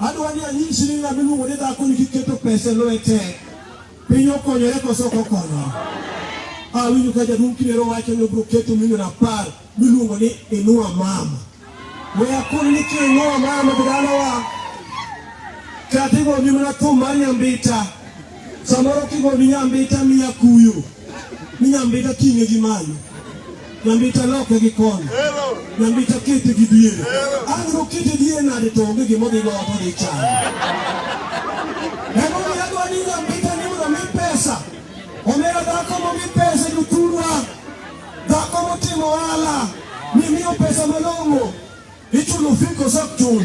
Adwa ni anying shilingi na miluongo ni dhako ni kiketo pesa lwete. Piny okonyore koso kokonyo. Awinjo ka jaduong' Kinero wacho ni obiro keto milion apar miluongo ni inua mama. We akoni ni kinua mama bidalawa. Katigo ni mana thum mar nyambita. Samoro kigo ni nyambita miya kuyo. ni nyambita ting'e gi malo nyambita loke gi kona nyambita kete gi diere an rokete diere nade to onge gima odhi goto dhi chamo emomiyo adwa ni nyambita ni mondo mi pesa omera dhako momi pesa jothurwa dhako motimo ohala mimiyo pesa malong'o Ichulo fee koso ok chul?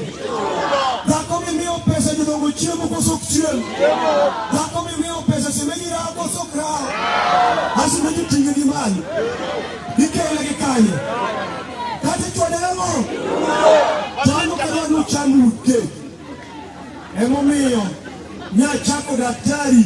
Dhako mimiyo pesa jodongo chiemo koso ok chiem? Dhako mimiyo pesa semeji rawo koso ok rawo? Asemeji ting'e gi mali. Ikele gi kanye? Kata ichwade ang'o? Chano kata nu chano uke. Emomiyo nyachako daktari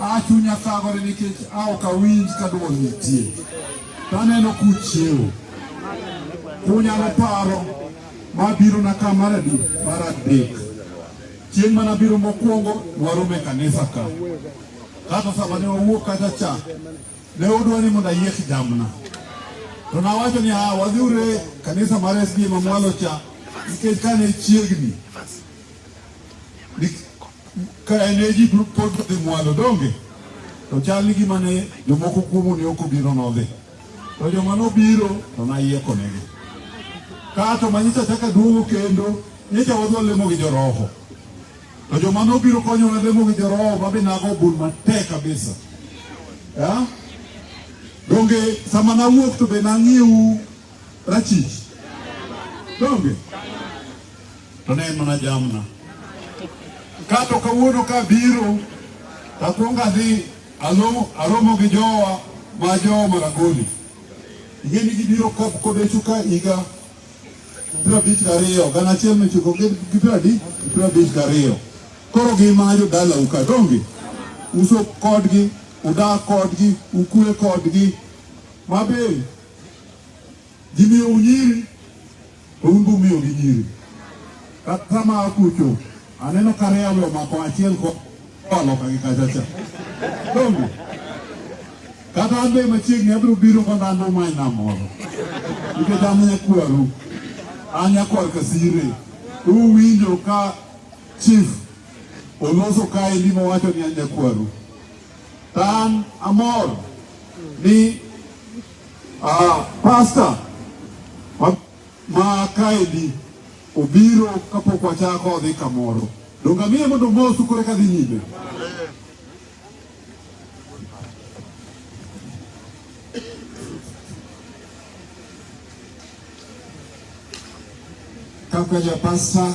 A chunya thagore nikech a ok awinj ka dwol nitie. To aneno kuchiewo. Kunyalo paro ma biro na ka mar adi mar adek. Chieng' mana biro mokwongo warome kanisa ka. Kata sama ne wawuok kacha cha ne odwa ni mondo ayiek jamna. To nawacho ni a wadhiure kanisa mar SDA mamwalo cha nikech kane chiegni Ka eneji pod dhi mwalo donge to chal ni gima ne jomoko kuomu ne ok obiro nodhi to joma nobiro to nayiekonegi kato manyisa chaka duogo kendo nyicha wadwa lemo gi joroho to joma nobiro konyona lemo gi joroho mabe nago bul matek kabisa donge sama nawuok to be nang'ieu rachich donge to ne en mana jamna. Kato kawuono ka biro takwonga dhi alo aromo gi jowa ma jowa Maragoli ing'eni gibiro kap kodechu ka higa piero abich gariyo gana achiel michiko gi piero adi piero abich gariyo koro gimanyo dalau ka donge uso kodgi udak kodgi ukwe kodgi mabe Gimiyo unyiri to un be umiyo gi nyiri. Kata ma akucho aneno ka reyawe omako achiel ko aloka gi kachacha. Donge? Kata an be machiegni abiro biro ka dhano ma ina moro. Nikech an nyakwaru. An nyakwar Kasire. Uwinjo ka chief oloso kaendi mowacho ni an nyakwaru. An amor ni uh, pastor ma, ma kaendi obiro kapok wachako odhi kamoro donge amiye mondo omosu kore kadhi nyime kaka japasta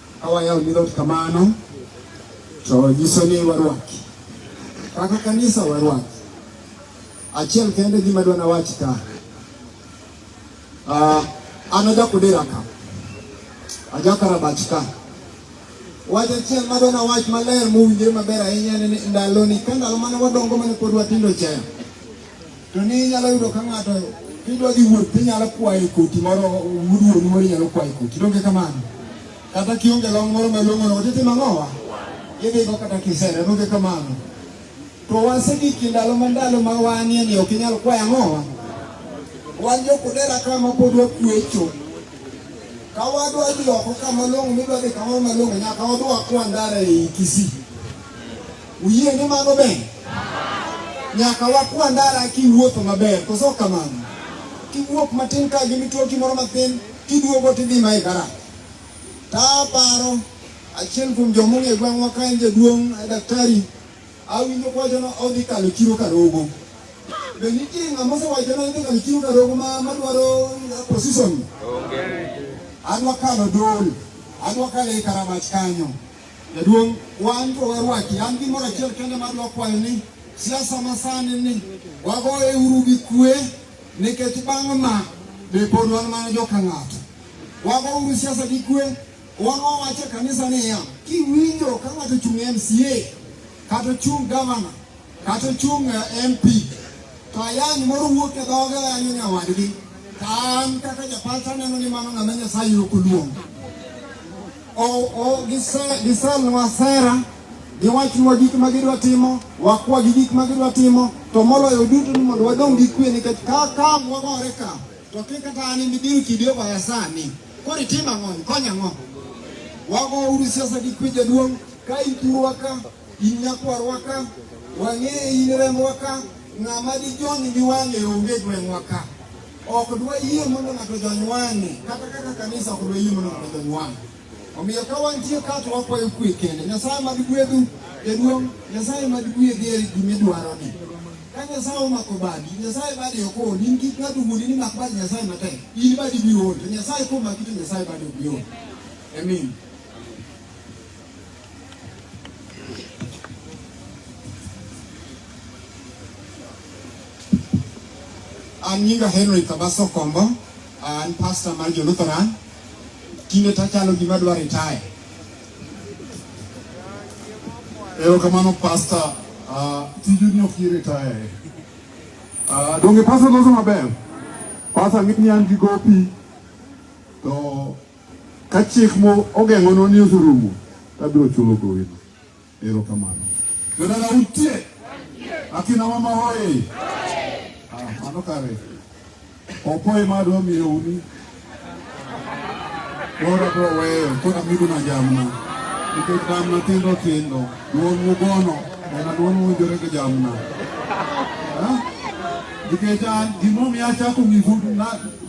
Awayawo ni dhot kamano to nyiso ni warwaki kaka kanisa warwaki. Achiel kende gima dwana wach ka uh, an ajakudira ka ajakarabach ka wach achiel ma dwana wach maler mowinjore maber ahinya ndaloni ka ndalo mane wadongo mane pod watindo chaya To ni inyalo yudo ka ng'ato idwa dhi wuoth tinyalo kwayo koti moro wuduoni moro inyalo kwayo koti donge kamano kata kionge long moro malong'ono otiti mang'owa idhigo kata kisera donge kamano to wasegiki ndalo ma ndalo ma wanie ni ok inyal kwayo ang'owa wan jokudera ka ma pod wakwecho ka wadwa dhi oko ka malong'o midwa dhi kamoro malong'o nyaka wadwa kwa ndara ei kisii Uyie ni mano ber? Nyaka wakwa ndara kiwuotho maber, koso kamano? Kiwuok matin ka gi mitoki moro mathin, kiduogo tidhi ma e garaj. Taparo achiel kuom joma ong'e gweng'wa ka en jaduong' eh, daktari, awinjo kwacho ni odhi kalo chiro Karogo. Be nitie ng'ama osewacho ni odhi kalo chiro Karogo ma madwaro eh, position? Adwa kalo dol, adwa kalo e Karamach kanyo. Jaduong', wan to warwaki, an gimoro achiel kende ma dwa kwayo ni siasa masani ni wagoye uru gi kwe nikech bang' ma be pod wan mana joka ng'ato. Wago uru siasa gi kwe, wan wawacho e kanisa niya, kiwinjo ka ng'ato ochung' e MCA kata ochung' gavana kata ochung' e MP to ayany moro wuok e dhoge ayanyo nyawadgi, to an kaka japalta neno ni mano ng'ama Nyasaye ok oluongo. Gisalnwa sera, giwachnwa gik ma gidwa timo, wakwa gi gik ma gidwa timo, to moloyo duto ni mondo wadong' gi kwe nikech ka ka wagore ka to kik kata an ibiro kidi obaya sani. Koro itim ang'o? Ikonya ang'o? Wago uru siasa gi kwe jaduong' ka ituro ka In nyakwarwa ka, wang'eye in rembwa ka, ng'ama dijony gi wang'e onge gweng'wa ka. Ok dwayie mondo ng'ato jony wang'e, kata kaka kanisa ok dwayie mondo ng'ato jony wang'e. Omiyo ka wantie ka to wakwayo kwe kende. Nyasaye mad gwedhu jaduong', Nyasaye mad gwedhi e gimidwaroni. Ka Nyasaye omako badi, Nyasaye badi ok ol. In kik ng'ato wuondi ni mak badi Nyasaye matek. In badi biro ol, to Nyasaye komaki to Nyasaye badi ok bi ol. Amen. An nyinga Henry Kabaso Kombo, an pastor mar jo Lutheran. Tinde tachalo gima dwa retire. Erokamano pastor, uh, tiju ni ok retire. Uh, donge pastor loso maber? Pastor ng'e ni an gi gopi to Ka chik mogeng'onu ni oserumo, to abiro chulo gowino. Erokamano. Jodala utie? Akina mama hoye! Ah, mano kare. Opo ema adwa miyo uni. Koro abiro weyo, koro amidu na jamna. Nikech jamna tindo tindo, duol mugono, ena duol muwinjore gi jamna. Nikech an gimomiyo achako nyisu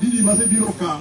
didi masebiro ka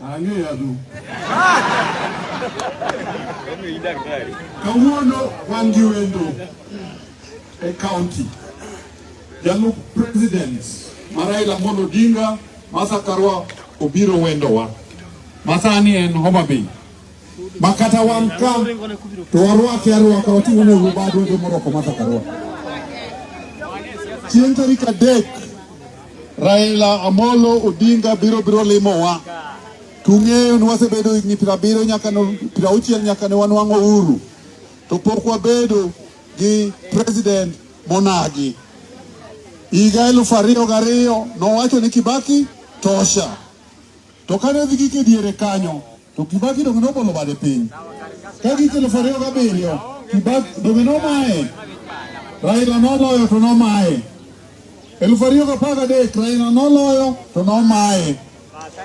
Angeyadu. Kawuono wan gi wendo e county. Jalup president ma Raila Amolo Odinga ma Sakarwa obiro wendowa. Masani en Homa Bay. makata wan ka to warwake arwaka wating'o ne ubadwa to morwako mata karwa chieng' tarik adek Raila Amolo Odinga biro biro limowa tung'eyo ni wasebedo higni piero abiriyo nyaka piero auchiel nyaka ne wanwang'o uhuru to pok wabedo gi president monagi higa elufu ariyo gariyo nowacho ni Kibaki tosha to kane dhi gike diere kanyo to Kibaki donge nobolo bade piny ka gik elufu ariyo gabiriyo Kibaki donge nomaye Raila noloyo to nomaye elufu ariyo gapar gadek Raila noloyo to nomaye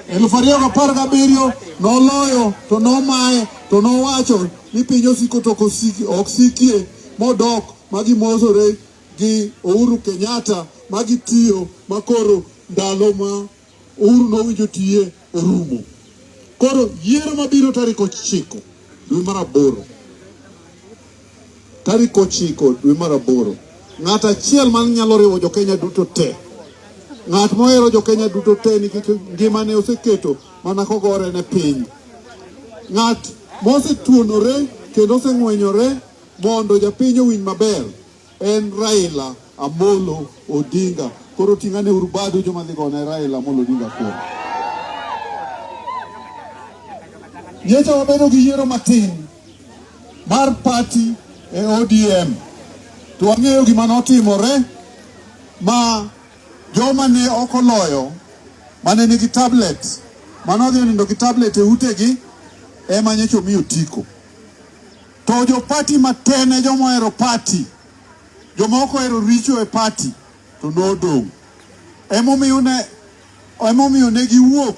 elufu ariyo gapar gabiriyo noloyo to nomaye to nowacho ni piny osiko to ok sikie modok ma gimosore gi Uhuru Kenyatta ma gitiyo makoro ndalo ma Uhuru nowinjo tiye orumo. Koro yiero mabiro tarik ochiko dwe mar aboro, tarik ochiko dwe mar aboro, ng'at achiel man nyalo riwo jo Kenya duto te, ng'at mohero jo Kenya duto te nikech ngimane oseketo mana kogore ne piny, ng'at mosetuonore kendo oseng'wenyore mondo japiny owinj maber. En Raila Amolo Odinga. Koro ting'ane uru badu joma dhi gone Raila Amolo Odinga koro. Nyecha wabedo gi yiero matin mar pati e ODM to wang'eyo gima notimore ma joma ne ok oloyo mane nigi tablet mane odhi onindo gi tablet e utegi ema nyecha omi otiko. To jo party matin e joma ohero party. Joma ok ohero richo e party to nodong'. Emomiyo ne emomiyo ne giwuok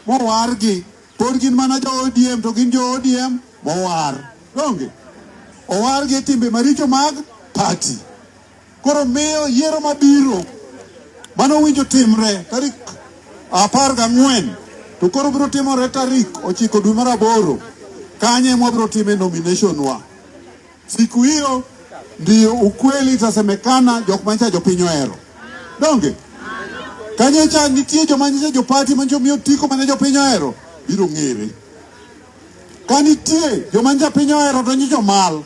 mowargi. Pod gin mana jo ODM to gin jo ODM mowar. Donge? Owargi e timbe maricho mag party. Koro miyo yiero mabiro mano winjo timre tarik apar gang'wen to koro biro timore tarik ochiko dwe mar aboro kanye mwabiro time nomination wa siku hiyo ndiyo ukweli itasemekana jok manyicha jopiny ohero donge kanye cha nitie joma nyicha jopati manyicha miyo tiko mane jopiny ohero biro ng'ere ka nitie joma nyicha piny ohero to nyicha omal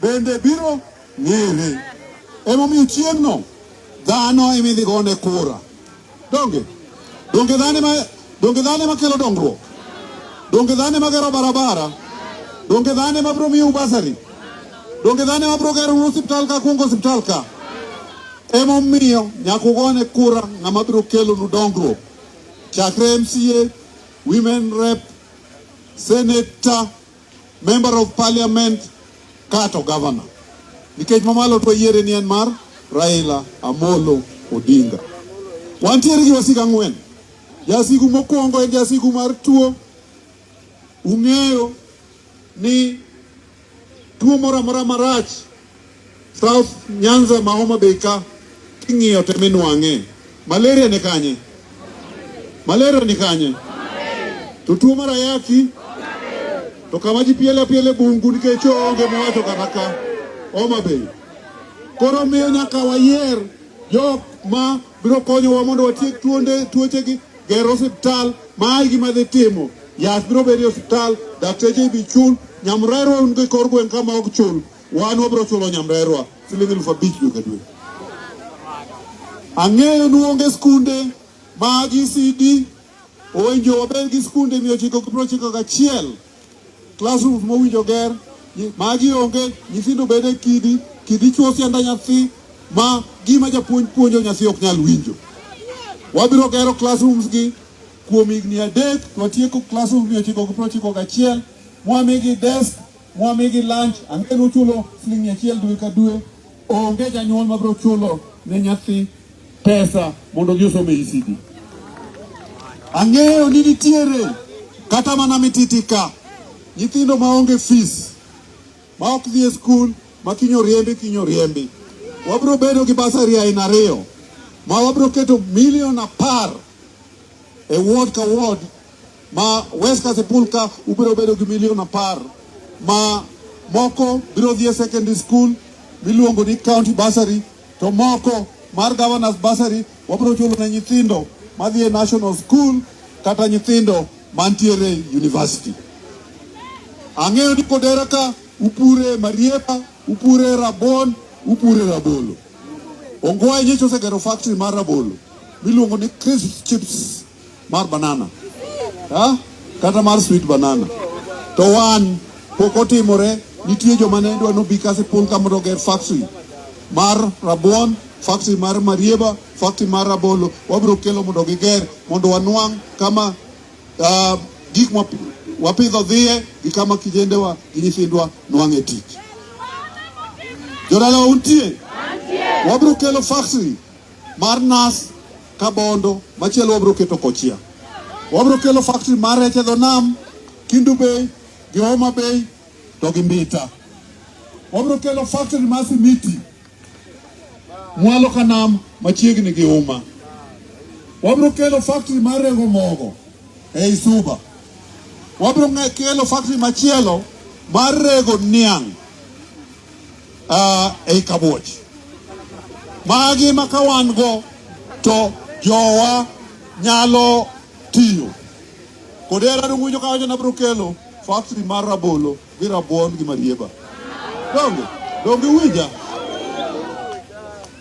bende biro ng'ere. Emomiyo chieng'no dhano ema idhi gone kura. Donge donge dhano ema donge dhano ema kelo dongruok, donge dhano ema gero barabara, donge dhano ema biro miyo basari, donge dhano ema biro gero osiptal ka kuongo osiptal ka. Emomiyo nyaka ugone kura ng'ama biro kelonu dongruok chakre MCA, women rep, senator Member of Parliament kato governor. Nikech mamalo to yiere ni en mar Raila Amolo Odinga. Wantiere gi wasika ang'wen. Jasigu mokwongo en jasigu mar tuo. Ung'eyo ni tuo moro amora marach South Nyanza ma Homa Bay ka king'iyo to minwang'e. Malaria ni kanye? Malaria ni kanye? To tuo mar ayaki to kama ji piele apiele bungu nikech onge mowacho kata ka Homa Bay. Koro miyo nyaka wayier jok ma biro konyowa mondo watiek tuonde tuochegi, gero osiptal ma igi madhi timo yath biro bedo e osiptal, dakteche ibi chul, nyamrerwa un gi kor gweng' kama ok chul Wan wabiro chulo nyamrerwa siling elfu abich dwe ka dwe. Ang'eyo ni onge skunde ma GCD owinjo wabed gi skunde mia ochiko gi piero ochiko gachiel classrooms mowinjo ger magi onge nyithindo bedo e kidi kidi chuo sianda nyathi ma gima japuonj puonjo nyathi ok nyal winjo. Wabiro gero classrooms gi kuom higni adek to watieko classrooms mia ochiko gi piero ochiko gachiel mwamigi desk Mwamigi lunch, ang'e nuchulo siling' mia achiel dwe ka dwe. Onge janyuol mabiro chulo ne nyathi pesa mondo odhi osom e ECD. Ang'eyo ni nitiere kata mana mititi ka nyithindo maonge fees ma ok dhi e skul ma kinyo riembi kinyo riembi. Wabiro bedo gi basari aina ariyo ma wabiro keto milion apar e ward ka ward Ma West Kasipul ka ubiro bedo gi milion apar ma moko biro dhi e secondary school miluongo ni county bursary to moko mar governors bursary wabiro chulo ne nyithindo madhi e national school kata nyithindo mantiere university. Ang'eyo ni Kodera ka upure Marieba, upure Rabon, upure Rabolo. Ongwae nyicho osegero factory mar Rabolo miluongo ni Crisp Chips. mar banana ha? kata mar sweet banana to wan pok otimore. Nitie joma ne dwa nobi kasi pun ka mondo oger factory mar rabuon, factory mar marieba, factory mar rabolo. Wabiro kelo mondo giger mondo wanwang' kama uh, gik wapidho dhiye gi kama kijendewa gi nyithindwa nwang'e tich. Jodalawa untie? Wabiro kelo factory mar nas Kabondo, machielo wabro keto Kochia. Wabro kelo factory mar rech e dho nam, Kindu Bay, gi Homa Bay, to gi Mbita. Wabro kelo factory mar simiti, mwalo ka nam machiegni gi Uma. Wabro kelo factory mar rego mogo ei Suba. Wabro ng'e- kelo factory machielo mar rego niang' uh, ei kabuoch. Magi ma ka wan go to jowa nyalo tiyo kod era dung'winjo ka wacho nabro kelo factory mar rabolo gi rabuon gi marieba donge donge winja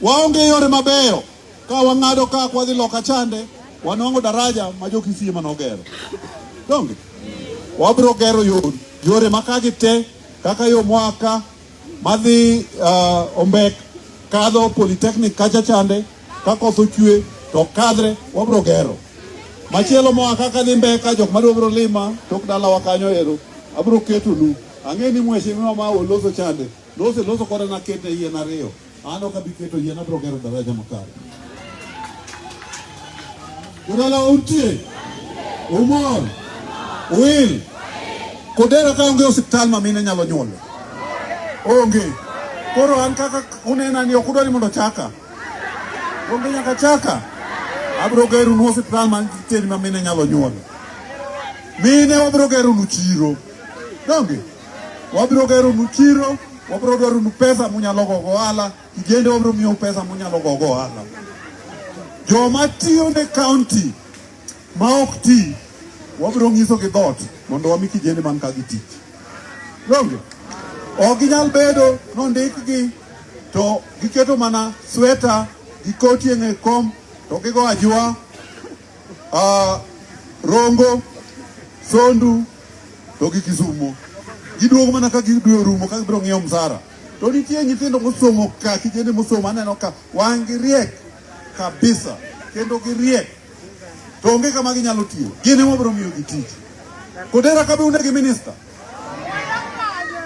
waonge yore mabeyo ka wang'ado ka kwadhi loka chande wanwang'o daraja ma jokisiye manogero donge wabro gero yore makagi te Kaka yo mwaka madhi uh, Ombek kadho Polytechnic kacha chande ka koth ochwe to kadre wabro gero machielo moa kaka dhi Mbeka jok madwa bro lima tok dalawa kanyo ero abro ketonu ang'e ni mheshimiwa ma oloso chande loso loso koda nakete yien ariyo An ok abi keto yien, abiro gero daraja makare. Udala untie? Umor? Wil? Kodera ka onge osiptal ma mine nyalo nyuolo? Onge. Koro an kaka unena ni ok udwa ni mondo chaka. Onge nyaka chaka. Abiro gero nu osiptal ma nitiere ma mine nyalo nyuolo. Mine wabiro gero nu chiro. Donge? Wabiro gero nu chiro, wabiro gero nu pesa munyalo go go ala, kijende wabiro miyo pesa munyalo go go ala. Jo ma tiyo ne county ma ok ti, wabiro ngiso gi dot mondo wami kijende man ka gi tich. Donge? Ok ginyal bedo nondik gi to giketo mana sweta gi koti e kom to gigo ajua uh, Rongo, Sondu to gi Kisumo. Giduogo mana ka gidwe orumo ka gibiro ng'iewo msara. To nitie nyithindo mosomo ka kijende mosomo aneno ka wang' gi riek kabisa kendo gi riek to onge kama ginyalo tiyo. Gin ema biro miyo gi tich. Kodera kabe unegi minister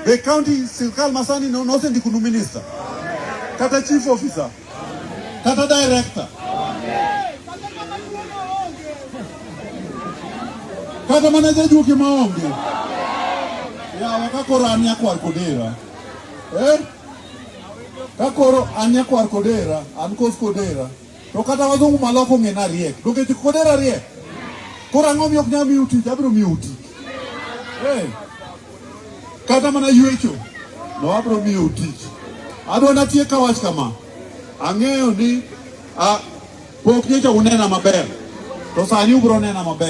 The county sirkal masani no, no send kunu minister kata chief officer kata director kata mana jajuoke maonge yawa kakoro an nyakwar kodera eh? kakoro an nyakwar kodera an kos kodera To kata wazungu maloko ong'e na riek. Donge ji kodera riek? Koro ang'o miyo ok nyal miyo tich? Abiro miyo tich. Hey. Kata mana yuecho. No abiro miyo tich. Adwa natie ka wach kama. Ang'eyo ni a pok nyocha unena maber. To sani ubiro nena maber.